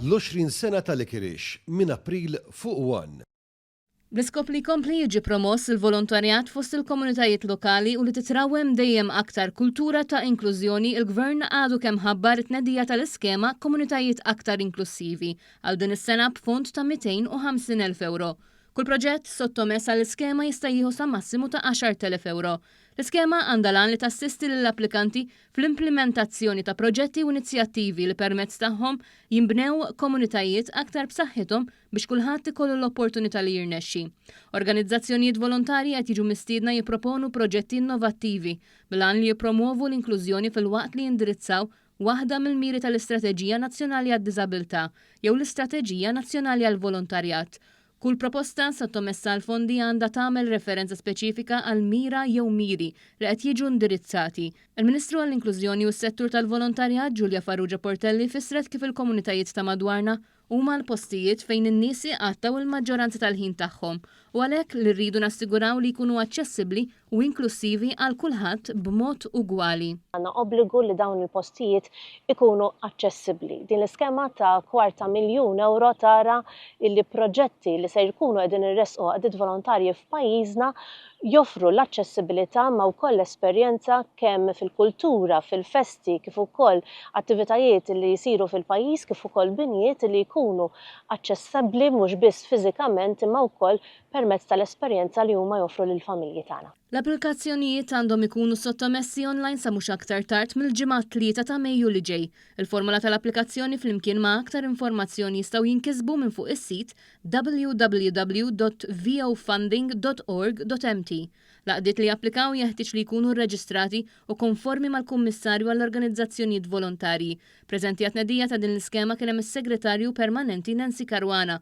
L-20 sena ta' Likirix, minn April fuq one. L-iskop li jkompli jiġi promoss il-volontarjat fost il-komunitajiet lokali u li titrawwem dejjem aktar kultura ta' inklużjoni il-Gvern għadu kemm ħabbar it-tnedija tal-iskema Komunitajiet Aktar Inklussivi għal din is-sena b'fond ta' 250,000 ewro. Kull proġett sottomess għall-iskema jista' jieħu sa massimu ta' 10,000 ewro. L-iskema għandha l-għan li tassisti lill-applikanti fl-implimentazzjoni ta' proġetti u inizjattivi li permezz tagħhom jinbnew komunitajiet aktar b'saħħithom biex kulħadd ikollu l-opportunità li jirnexxi. Organizzazzjonijiet volontarji qed jiġu mistiedna jipproponu proġetti innovattivi bil-għan li jippromwovu l-inklużjoni filwaqt li jindirizzaw waħda mill-miri tal-Istrateġija Nazzjonali għad-Diżabilità jew l-Istrateġija Nazzjonali għall-Volontarjat Kull proposta sottomessa għall-fondi għandha tagħmel referenza speċifika għal mira jew miri li qed jiġu indirizzati. Il-Ministru għall-Inklużjoni u s-Settur tal-Volontarjat Julia Farrugia Portelli fissret kif il-komunitajiet ta' madwarna huma l-postijiet fejn in-nies jqattgħu l-maġġoranza tal-ħin tagħhom u għalhekk li rridu nassiguraw li jkunu aċċessibbli u inklussivi għal kulħadd b'mod ugwali. Għandna obbligu li dawn il-postijiet ikunu aċċessibbli. Din l-iskema ta' kwart ta' miljun ewro tara li proġetti li se jkunu qegħdin iressqu għaqdiet volontarji f'pajjiżna joffru l-aċċessibilità ma' wkoll l-esperjenza kemm fil-kultura, fil-festi kif ukoll attivitajiet li jsiru fil-pajjiż kif ukoll binjiet li jkunu aċċessabbli mhux biss fiżikament imma wkoll permezz tal-esperjenza li huma joffru lill-familji tagħna. L-applikazzjonijiet għandhom ikunu sottomessi online sa mhux aktar tard mill-Ġimgħa t-Tlieta ta' Mejju li ġej. Il-formola tal-applikazzjoni flimkien ma' aktar informazzjoni jistgħu jinkisbu minn fuq is-sit www.vofunding.org.mt. L-għaqdiet li japplikaw jeħtieġ li jkunu rreġistrati u konformi mal-Kummissarju għall-Organizzazzjonijiet Volontarji. Preżenti għat-tnedija ta' din l-iskema kien hemm is-Segretarju Permanenti Nancy Caruana